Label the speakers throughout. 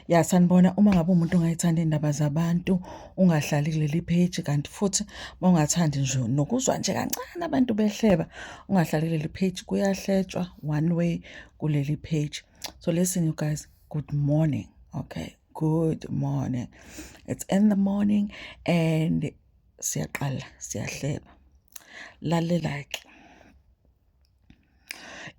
Speaker 1: Ya sanibona uma ngabe umuntu ongayithanda iy'ndaba zabantu ungahlali kuleli page kanti futhi uma ungathandi nje nokuzwa nje kancane abantu behleba ungahlali kuleli page kuyahletshwa one way kuleli page so listen you guys good morning okay good morning it's in the morning and siyaqala siyahleba lalela-ke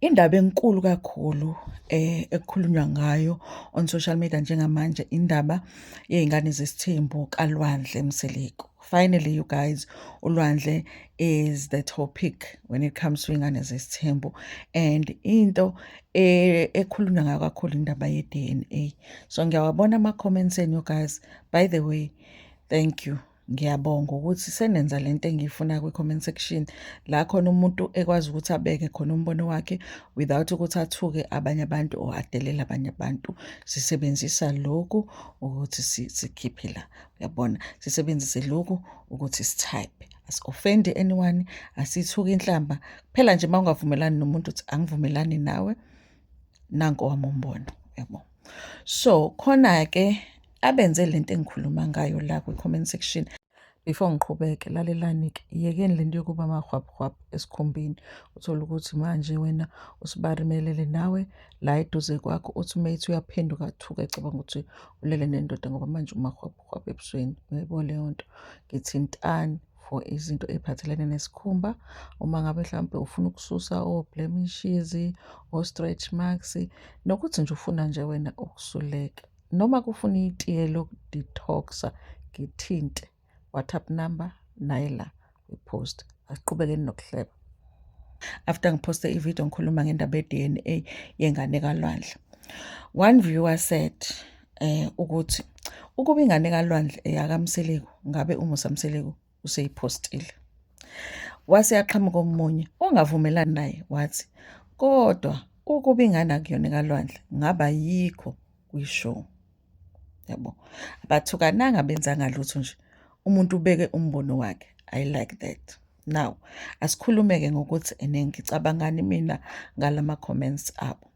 Speaker 1: Indaba enkulu kakhulu eh, ekukhulunywa ngayo on social media njengamanje indaba yey'ngane zesithembu kalwandle mseleku finally you guys ulwandle is the topic when it comes to iy'ngane zesithembu and into eh, ekhulunywa ngayo kakhulu indaba ye-dna so ngiyawabona ama-comments enu guys by the way thank you Ngiyabonga ukuthi senenza le nto engiyifuna kwi-comment section la khona umuntu ekwazi ukuthi abeke khona umbono wakhe without ukuthi athuke abanye abantu or adelele abanye abantu. Sisebenzisa lokhu ukuthi sikhiphe la, uyabona? Sisebenzise lokhu ukuthi sithayipe. Asi-ofendi anyone, asithuki inhlamba. Kuphela nje uma ungavumelani nomuntu uthi angivumelani nawe. nanko wami umbono yabo so khona-ke abenze le nto engikhuluma ngayo la kwi-comment section before ngiqhubeke lalelani-ke yekeni le nto yokuba amahwabhwabhu esikhumbini uthole ukuthi manje wena usibarimelele nawe la eduze kwakho uthi uma ethi uyaphenduka athuke ecabanga ukuthi ulele nendoda ngoba manje umahwabhwabhu ebusweni uyayibona leyo nto ngithintani for izinto ey'phathelene nesikhumba uma ngabe mhlawumpe ufuna ukususa o-blemishes, o-stretch marks nokuthi nje ufuna nje wena ukusuleka. Noma kufuna itiye lokudetox-a ngithinte WhatsApp number naye la kwi-post. Asiqhubekeni nokuhleba. After ngiphoste ividiyo ngikhuluma ngendaba ye-DNA yengane kalwandle. One viewer said eh ukuthi ukuba ingane kalwandle eyakamseleku ngabe umusa mseleku useyiphostile wase yaqhamuka omunye ongavumelani naye wathi kodwa ukuba ingane akuyona kalwandle ngaba yikho kwishow yabo abathukananga benzanga lutho nje umuntu ubeke umbono wakhe i like that now asikhulumeke ngokuthi ene ngicabangani mina ngalama comments abo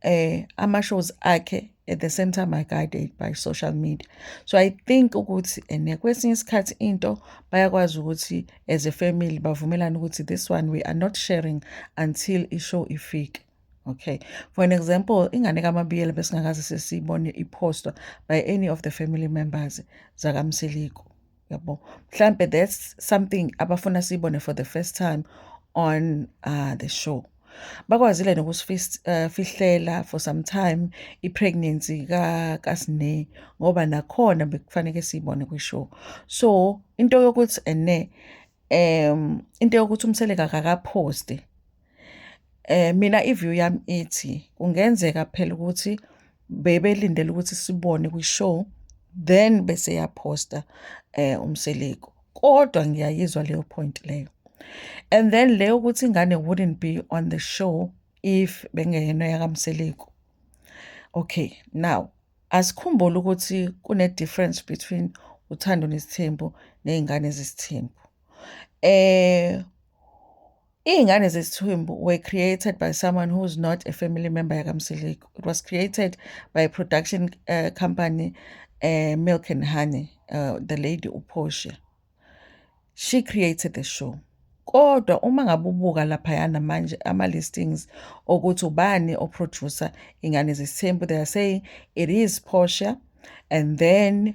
Speaker 1: eh ama shows akhe at the same time I guided by social media so I think ukuthi and eh, kwesinye isikhathi into bayakwazi ukuthi as a family bavumelana ukuthi this one we are not sharing until i show ifike okay for an example ingane kamabiyela besingakaze sesiyibone ipostwa by any of the family members zakamsiliko yabo mhlambe that's something abafuna siyibone for the first time on uh, the show bakwazile nokusifihlela uh, for some time i-pregnancy kasine ngoba nakhona bekufaneke siyibone kwishow so into yokuthi ene um into yokuthi umseleka kakaphosti Eh mina iview yami ithi kungenzeka phela ukuthi bebelindele ukuthi sibone kwi-show then bese yaphosta eh umseleku kodwa ngiyayizwa leyo point leyo and then leyo ukuthi ingane wouldn't be on the show if bengeyena yakamseleku okay now asikhumbule ukuthi kune difference between uthando nesithembu nezingane zesithembu eh Iy'ngane zesithwimbu were created by someone who is not a family member yakamsiliku it was created by a production uh, company uh, milk and honey uh, the lady uportia she created the show kodwa uma ngabe ubuka laphayana manje ama-listings okuthi ubani oproducer ingane zesithembu they are saying it is portia and then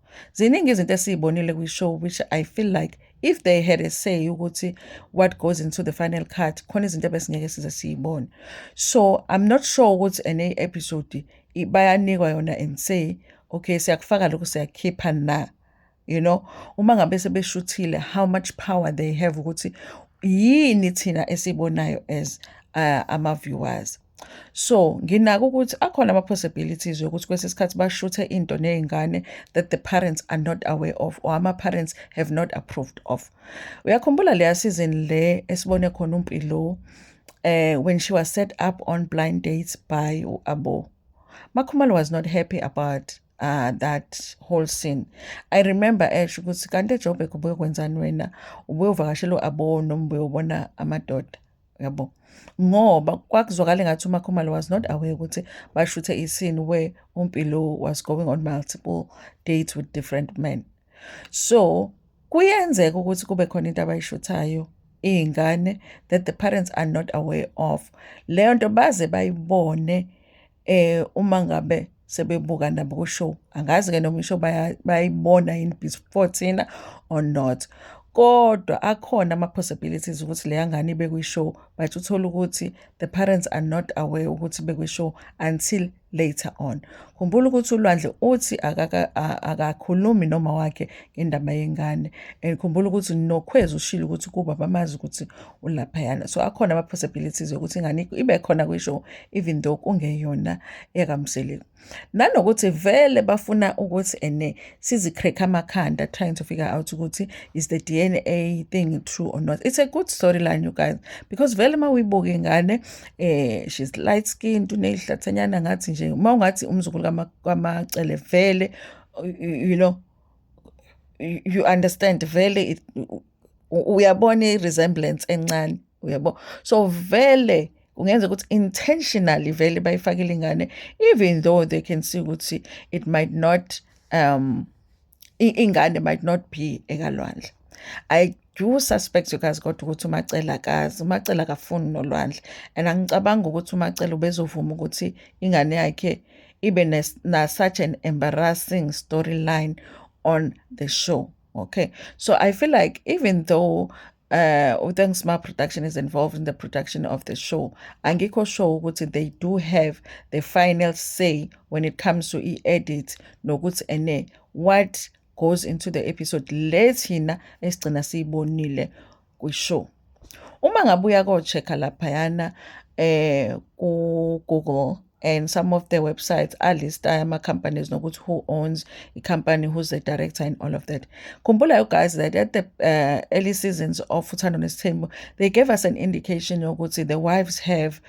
Speaker 1: ziningi izinto esiyibonile kwi-show which i feel like if they had a say ukuthi what goes into the final cut khona izinto ebesingeke size siyibone so i'm not sure ukuthi ene episode bayanikwa yona and say okay siyakufaka lokhu siyakhipha na you know uma ngabe sebeshuthile how much power they have ukuthi yini thina esibonayo as uh, ama-viewers So nginaka ukuthi akhona ama-possibilities yokuthi kwesinye isikhathi bashuthe into ney'ngane that the parents are not aware of or ama-parents have not approved of. Uyakhumbula leya season le esibone khona uMpilo eh when she was set up on blind dates by u-Abo. Makhumalo was not happy about uh, that whole scene i remember esho ukuthi kanti ejobek ubuye kwenzani wena ubuye uvakashela u-abo noma ubuye ubona amadoda yabo ngoba kwakuzwakala engathi umakhumalo was not aware ukuthi bashuthe isini where umpilo was going on multiple dates with different men so kuyenzeka ukuthi kube khona into abayishuthayo iy'ngane that the parents are not aware of leyo nto baze bayibone eh uma ngabe sebebuka nabo kushow angazi ke noma isho bayayibona yini before thina or not kodwa akhona ama-possibilities ukuthi leya ngane ibe kwi-show but uthole ukuthi the parents are not aware ukuthi bekwi-show until later on khumbula ukuthi ulwandle uthi akakhulumi noma wakhe ngendaba yengane and khumbula ukuthi nokhwezi ushile ukuthi kuba bamazi ukuthi ulaphayana so akhona ama-possibilities yokuthi ingane ibe khona kwisho even though kungeyona ekamseli nanokuthi vele bafuna ukuthi ene sizicracka amakhanda trying to figure out ukuthi is the dna thing true or not it's a good storyline you guys because vele uma uyibuka ingane eh she's light skinned uneyihlathanyana ngathi nje uma ungathi umzukulu kamacele vele you know you understand vele uyabona i-resemblance encane uyabo so vele kungenza ukuthi intentionally vele bayifakile ingane even though they can see ukuthi it might not um ingane might not be ekalwandle i do suspect you guys kodwa ukuthi umacela akazi umacela akafuni nolwandle and angicabanga ukuthi umacela ubezovuma ukuthi ingane yakhe ibe na such an embarrassing storyline on the show okay so i feel like even though uh uthanks my production is involved in the production of the show angikho sure ukuthi they do have the final say when it comes to e-edit nokuthi ene what goes into the episode le thina esigcina siyibonile kwi-show uma ngabe uya ko-check-a laphayana eh ku-google and some of the websites are lista ama-companies nokuthi who owns a company who's the director and all of that khumbula you guys that at the uh, early seasons of uthando nesithembu they gave us an indication yokuthi the wives have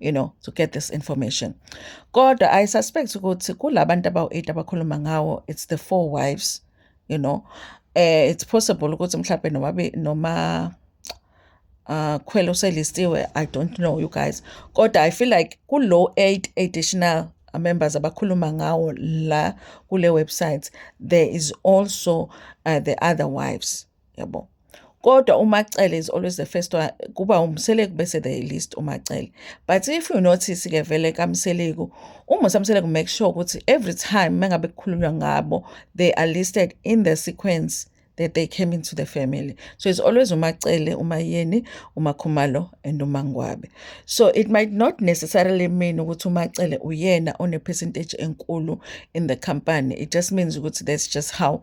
Speaker 1: you know to get this information kodwa i suspect ukuthi kulabantu abawu-8 abakhuluma ngawo it's the four wives you know eh it's possible ukuthi mhlawumbe noma noma uh khwela uselistiwe i don't know you guys kodwa i feel like kulo 8 additional members abakhuluma ngawo la kule website there is also uh, the other wives yabo kodwa umacele is always the first one kuba umseleku bese the list umacele but if you notice ke vele kamseleku umusa mseleku make sure ukuthi every time mengabe kukhulunywa ngabo they are listed in the sequence that they came into the family. So it's always Umacele, Umayeni, Umakhumalo, and Umangwabe. So it might not necessarily mean ukuthi Umacele uyena on a percentage enkulu in the company. It just means ukuthi that's just how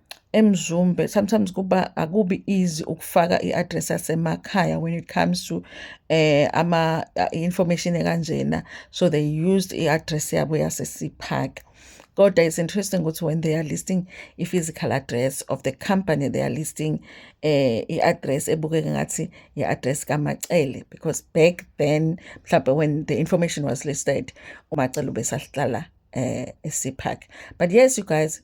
Speaker 1: eMzumbe sometimes kuba akubi easy ukufaka i-address yasemakhaya when it comes to eh ama uh, information ekanjena so they used i-address yabo yase-Sea Park kodwa it's interesting ukuthi when they are listing i-physical address of the company they are listing eh i-address ebukeke ngathi i-address kaMacele because back then mhlawumbe when the information was listed uMacele ubesahlala eh e-Sea Park but yes you guys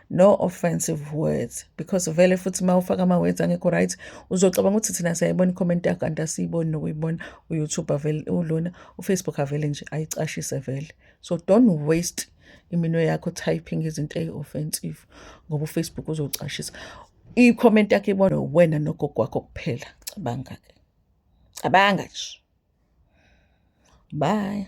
Speaker 1: no offensive words because vele futhi uma ufaka ama-words angekho right uzocabanga ukuthi thina siyayibona icomment yakho kanti asiyiboni nokuyibona uyoutube avele ulona ufacebook avele nje ayicashise vele so don't waste iminwe yakho typing izinto eyi-offensive ngoba ufacebook uzocashisa i-comment yakho ibona wena nogogo wakho kuphela cabanga-ke cabanga nje bye